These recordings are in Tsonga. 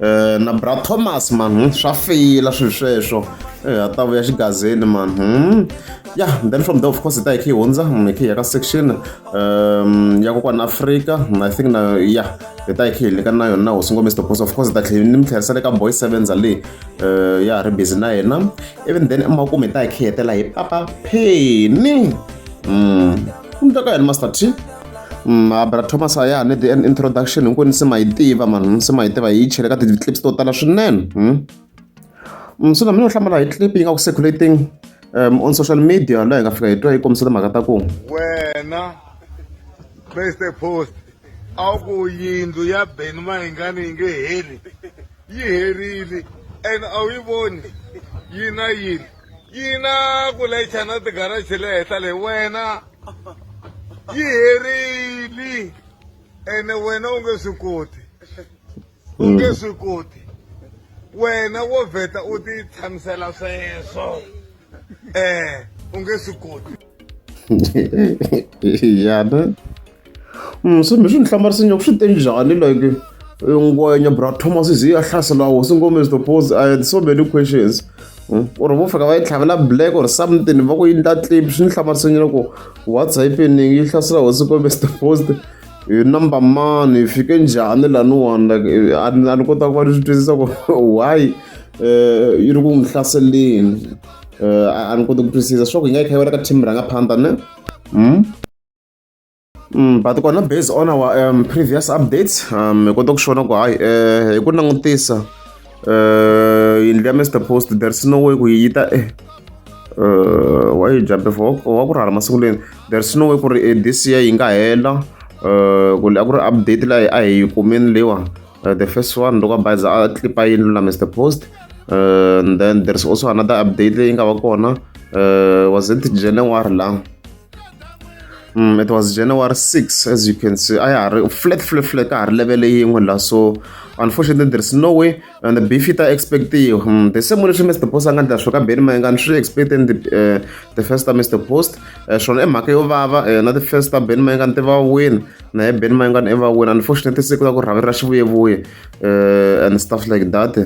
Eh, na bra thomas mani hmm, swa feyila swilo sweswo eh, a ta vuya xigazeni mani hmm. ya then from there of course hi ta hi khe hi hundza hmm, hi khe hi ya ka section um ya kokwana afrika i think na ya hi ta hi khe hi leka na yona na hosi ngo mr boss of course hi ta tlhela ni mi tlherisa le ka boy sevenza leyi eh, ya ha ri busy na yena even then emakumu hi ta hi khe hi hetela hi papa pheni u mutaka yini master t Mm, abra thomas a ya ha ni the end introduction hinkwenu se ma yi tiva mani se ma yi tiva hi yi chele ka ti-clips to tala swinene hmm? Mm, so na mina u hlamala hi clip yi nga ku circulating um, on social media laha hi nga fika hi twa yi kombisa timhaka ta ku wena mr post a wu ku yindlu ya ben mahingani yi nge heli yi herile and a wu yi voni yi na yini yina ku layicha na tigaraji le henhla le wena yi herile ene wena u nge swi koti u nge mm. swi koti wena wo vheta u ti tshamisela sweswo um u nge swi koti ya ne mm, se mi swi ni hlamarisa nyaku swi te njhani like eh, ngwenya bra thomas ze ya hlasela hosi ngome to pose i had so many questions hmm? or vo fika va yi tlhavela black or something va ku yi ndla clip swi ni hlamarisa nyana ku what's happening yi hlasela hosi ngome to post hi number mani hi fike njhani laniwani like eh, a ni kota ku va ni swi twisisa ku why um yi ri ku n'wi hlaseleni eh, a ni koti ku twisisa swa ku hi nga yi kha yi wela ka team rhanga phanda ne mm? Mm, but kona based on our um, previous updates um, hi kota ku xona ku hayi eh, hi ku langutisa eh, yindlu ya mr post there's no way ku yi yi ta eh, eh, wa yi jambe for wa ku rhala masiku leni there's no way ku ri eh, this year yi nga hela eh, ku a ku ri update layi a hi yi kumeni leyiwani uh, the first one loko bayiza a clipa yini lula mr post uh, and then there's also another update leyi nga va kona uh, was it january la Mm, it was January 6, as you can see. I are flat, flat, flat, I level yin'we so unfortunately there's no way and the bifita expect you. Mm, the same way Mr. Post anga ndla shoka beni manga ndri expecting the uh, the first time Mr. Post uh, shona emhaka yo vava uh, na the first time beni manga ntiva win naye ben mayingani i va wena unfortunately se ku la ku rhavi ra xivuyevuye uh, and stuff like that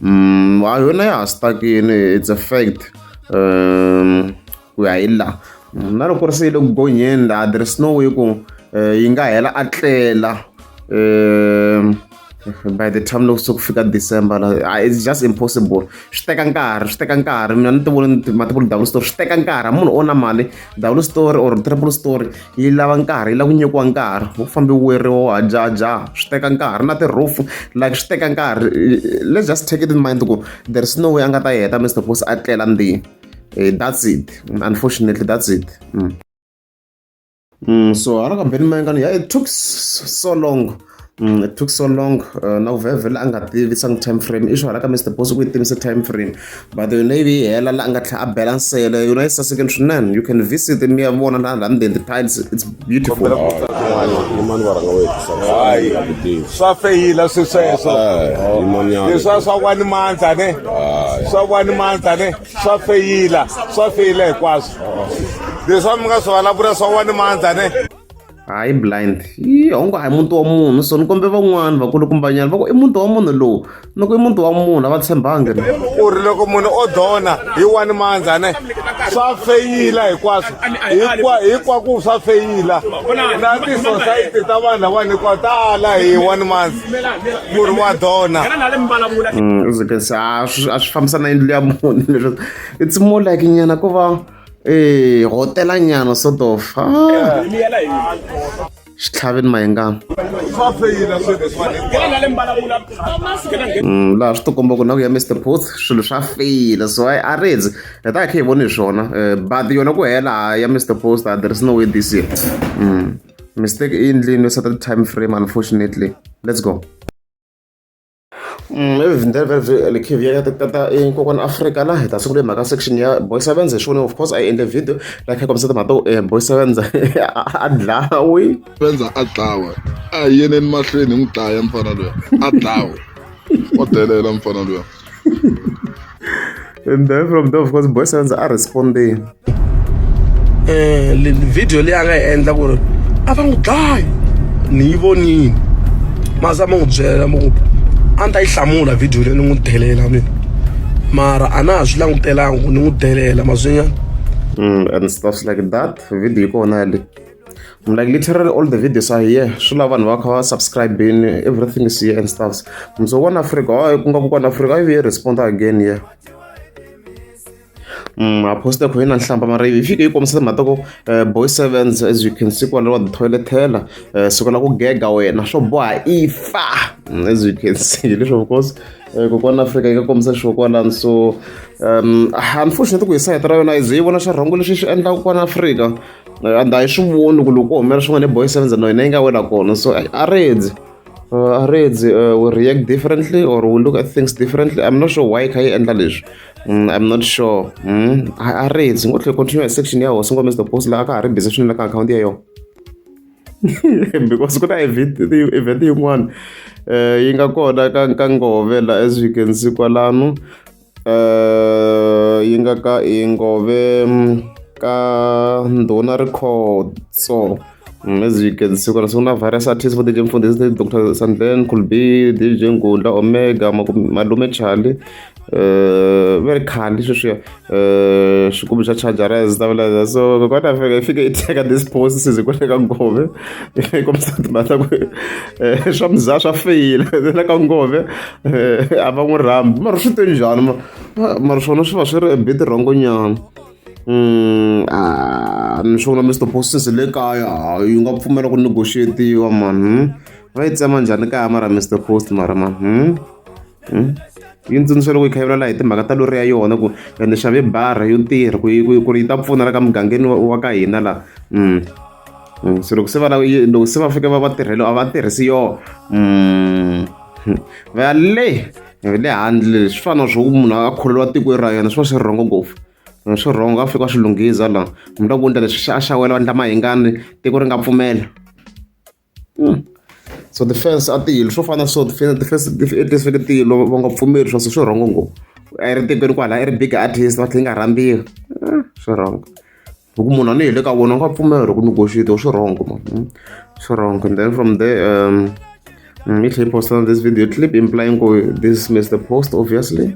um ha yona ya ha stakini it's a fact um ku ya hi laha mm, na loko ri se yi le ku gonyeni laha there is no way ku um yi nga hela a tlela um by the time loko se ku fika december ah, it's just impossible swi teka nkarhi swi teka nkarhi mina ni ti voni mativuli double story swi teka nkarhi munhu o na mali double story or triple story yi lava nkarhi yi lava ku nyikiwa nkarhi wu fambi weriwa wa jaja swi teka nkarhi na tirufu like swi teka nkarhi let's just take it in mind ku there is no way a nga ta yi heta mr boss a tlela ndini eh, that's it unfortunately that's it mm. Mm, so hala ka beni mayengano ya it took so long Mm, it took so long uh, na kuvhevhela a nga tivisa ngi time frame i swi hala ka mr boss ku yi tivise time frame but the navy yi hela la a nga tlhela a bela nsele yona yi sasekeni swinene you can visit mi ya vona la london the tiles it's beautiful yimani va rhanga wethayi swa feyila swi sweswo leswa swa kwani mandza ne swa kwani mandza ne swa feyila swa feyila hinkwaswo leswi a mi nga swi vulavula swa wani mandza ne hayi blind yi hongo hayi muti wa munhu so ni kombe van'wani vakulukumbanyana va ku i muti wa munhu lowu loko i muti wa munhu a va tshembangi u ri loko munhu o dona hi wani mandza ne swa feyila hinkwaswo hinkwaku swa feyila na tisosayiti ta vanhu lavani hinkwawo ta ala hi wani mandza murhi wa dona mm, a swi fambisa na yindlu ya munhu leswi it's more like nyana ku va e hotela nyana sort of xitlhaveni mayengana mm, laha swi tikomba ku na ku ya mr booth swilo swa feyila so i a ridzi hi ta hi kha hi voni hi swona eh, but yona ku hela ya mr post there is no way this year mm. mistake i endlini yo seta time frame unfortunately let's go mm, evhindlevhelekhivia tata enkokwani afrika la hi ta sungula hi mhaka section ya boy sevenz hi xivone of course a yi endle video la kha kombisa timhaka to eh, boy sevenz a dlawi sevenz a dlawa a hi yeneni mahlweni hi n'wi dlaya mfana loya a dlawa o delela mfana loya and then from there of course boy sounds are responding eh le video leyi a nga yi endla ku ri a va n'wi dlayi ni yi vonile maza ma n'wi byela mo ku a ni ta yi hlamula video leyi ni n'wi delela mina mara a na ha swi langutelanga ku ni n'wi delela mazwinyana mm, and stuff like that video yi kona le I'm like literally all the videos are here swi lava vanhu va kha va subscribini everything is here and stuffs mso one africa hayi ku nga ku kona africa ivi yi responda again here Mm, I posted Queen and Shampa Marie. If you come to Matoko, uh, boy sevens, as you can see, one of the toilet teller, uh, so gonna go gag away. Na show boy, ifa, mm, as you can see, this of course. Eh, ku kona afrika eka kombisa xo kwalani so um unfortunately ku hi sayitela yona ize yi vona xa rhangu lexi xi endlaka kwana afrika and a hi swi voni ku loko u humela swin'wana boy sevens no hina yi nga wela kona so a redzi uh, a redzi uh, we react differently or we look at things differently i'm not sure why kha yi endla leswi mm, i'm not sure mm, a redzi ngo tlhe continue section ya hosi ngomisa the post laha ka ha ri busy swinene ka akhawunti ya yona because ku na event yin'wana um yi nga kona ka ka ngove la as you can see kwalano eh, yi nga ka yi ngove mm, ka ndhuna rikhotso mm, as you can see kona siku na virus artist vo dj mfundhisi ni dr sandlen kulbi dj ngundla omega malume charlie eh, va ri khandi sweswiya eh, xigubu xa chargera zitavulaza so kokwana fika i fike i teka this post size kwale ka ngove i kombisa timhaka ku Eh, swa muzaa swa feyila le ka ngove eh, a va n'wi rhambi mara swi te njhani mara swona swi va swi ri ebiti rhongonyana mm, ah, ni swi vona mr postis le kaya ah, yi nga pfumela ku negotiatiwa mani hmm? va yi tsema njhani kaya mara mr post mara mani hmm? yi ntsundzuxa loko yi kha yi vulavula hi timhaka ta lori ya yona ku ya ni xave bara yo tirha ku ku ku ri yi ta pfuna la ka mugangeni wa ka hina la mm. mm so loko se va lava loko se va fike va va tirhelo a va tirhisi yona mm. va ya le le handle swi fana na swo ku munhu a kholelwa tiko ra yena swi va swi rhongo ngopfu swi rhongo a fika swi lunghisa la munhu la ku endla leswi a xawela vandla mahingani tiko ri nga pfumela Hmm. so defense a tilo swo fana so defense defense tilo va nga pfumeli swa swi rhongo ngopfu a ri tekweni kwala i ri big artist va tlhe yi nga rhambiwi eh, swi wrong hi ku munhu a ni hi le ka vona u nga pfumela ku negotiate swi wrong ma hmm? swi wrong and then from there um mm, i tlhe yi posta this video clip implying ku this missed the post obviously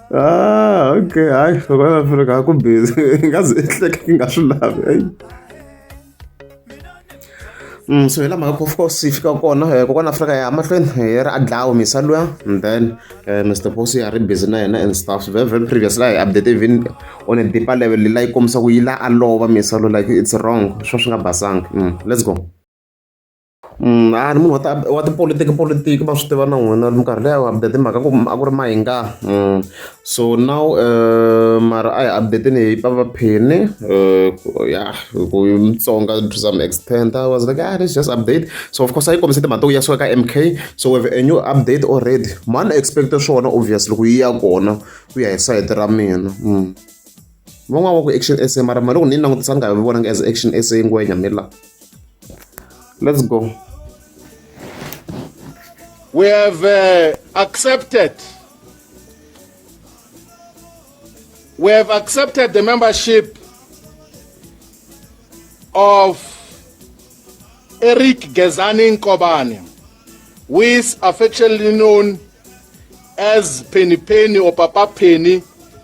Ah, okay. Hayi, South Africa ku busy. Ngaze ehleke nga swi lavi. Hey. Mm, so hi la mhaka of course hi fika kona eh, kokwana afrika ya mahlweni hi eh, ri a dlawa misa luya and then uh, eh, mr boss ya ri busy na yena and stuff very very previous la hi update even on a deeper level la yi kombisa ku yi la a lova misa lu like it's wrong swo swi nga basanga mm, let's go Mm, a ni munhu wa ta wa tipolotiki polotiki va swi tiva na n'wina minkarhi leyi a wu update mhaka ku a ku ri mahinga mm. so now eh, mara a hi updateni hi papa phini eh, ya ku mutsonga to some extent i was like ah let's just update so of course a yi kombise timhaka to ya suka ka m k so we have a new update already mani expect swona obviously ku yi ya kona ku ya hi sayiti ra mina mm. van'wana wa ku action essay mara mali loko ni yi langutisa ni nga yi vonangi as action essay ngwenya mi la let's go we have uh, accepted we have accepted the membership of Eric Gezani Nkobane, who is affectionately known as Penny Penny or Papa Penny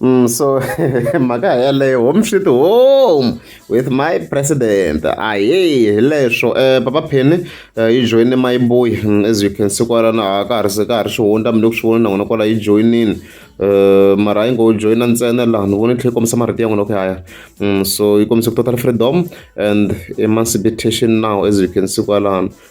Mm, so mhaka yaleyo home sweet home with my president ahee hi leswo um papa pheni eh, yi joyine mayiboyi mm, as you can see kwalana a ka ha ri se ka ha ri swi hundza mi le ku swi vona na n'wina kwala yi joyinini um mara yi ngo joyina ntsena laha ni vona yi tlhela yi kombisa marito ya n'wina ku yaya mm, so yi kombisa ku total freedom and emancipation now as you can see kwalano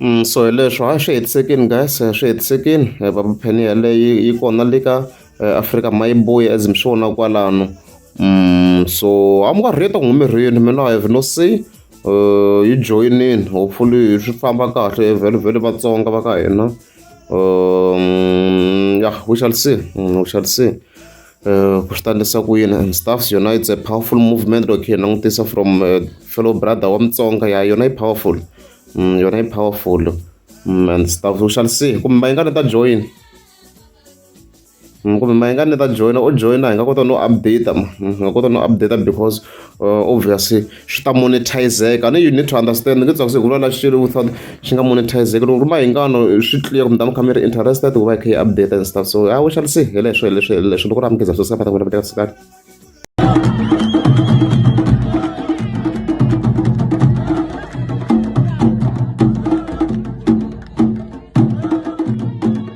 Mm, so hi leswo a swi hetisekini guys a swi hetisekini eh, va pheni yaleyo yi kona le ka eh, afrika ma yi boyi as mi swi vona kwalano mm, so a mi nga rheta ku humirini mina i have no say eh, yi joyinini hopefully swi famba kahle vhele vhele vatsonga va ka hina um, ya we shall see mm, we shall see ku swi ta endlisa ku yini and staffs yona it's a powerful movement loko hi langutisa from fellow brother wa mutsonga ya yona yi powerful mm, yona yi powerful mm, and staff we shall see kumbe mayingani ta join mm, kumbe mayingani ta joina o joina hi nga kota no update ma hi nga kota no update because uh, obviously swi ta monetizeka and you need to understand nge tsakuse hikuva la xilo without xi nga monetizeki loko ri mahingano swi clear kumbe tama kha mi ri interested ku va yi kha yi update and stuff so i wish ali se hele swo leswi leswi loko ri amukeza swo sika va ta ku laveka sikani